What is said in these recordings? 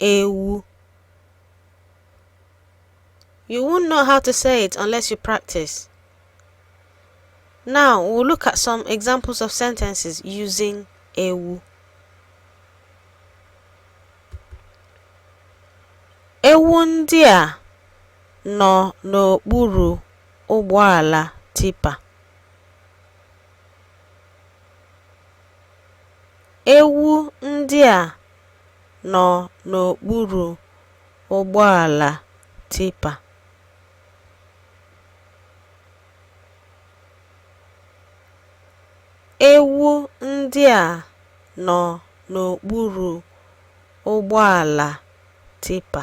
Ewu You won't know how to say it unless you practice. Now, we'll look at some examples of sentences using ewu. Ewu ndị a nọ n'okpuru ụgbọala tipa. Ewu ndị a nọ n'okpuru ụgbọala tipa. Ewu ndị a nọ n'okpuru ụgbọala tipa.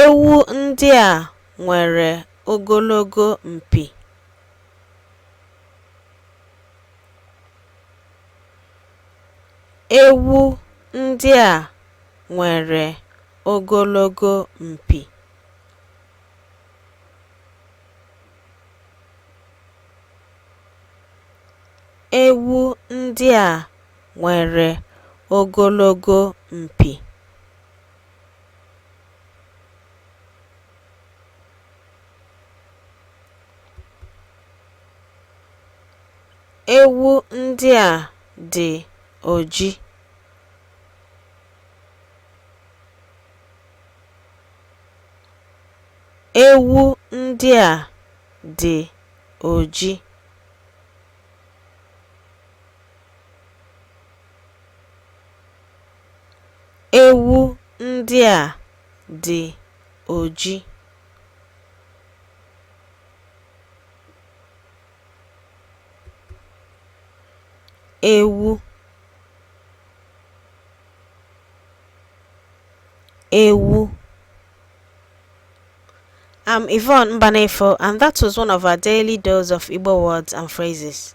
Ewu ndị a nwere ogologo mpi. Ewu ndị a nwere ogologo mpi. Ewu ndị a nwere ogologo mpi. Ewu ndị a dị oji. Ewu ndị a dị oji. Ewu ndị a dị oji. Ewu ewu I'm Yvonne Mbanefo, and that was one of our daily dose of Igbo words and phrases.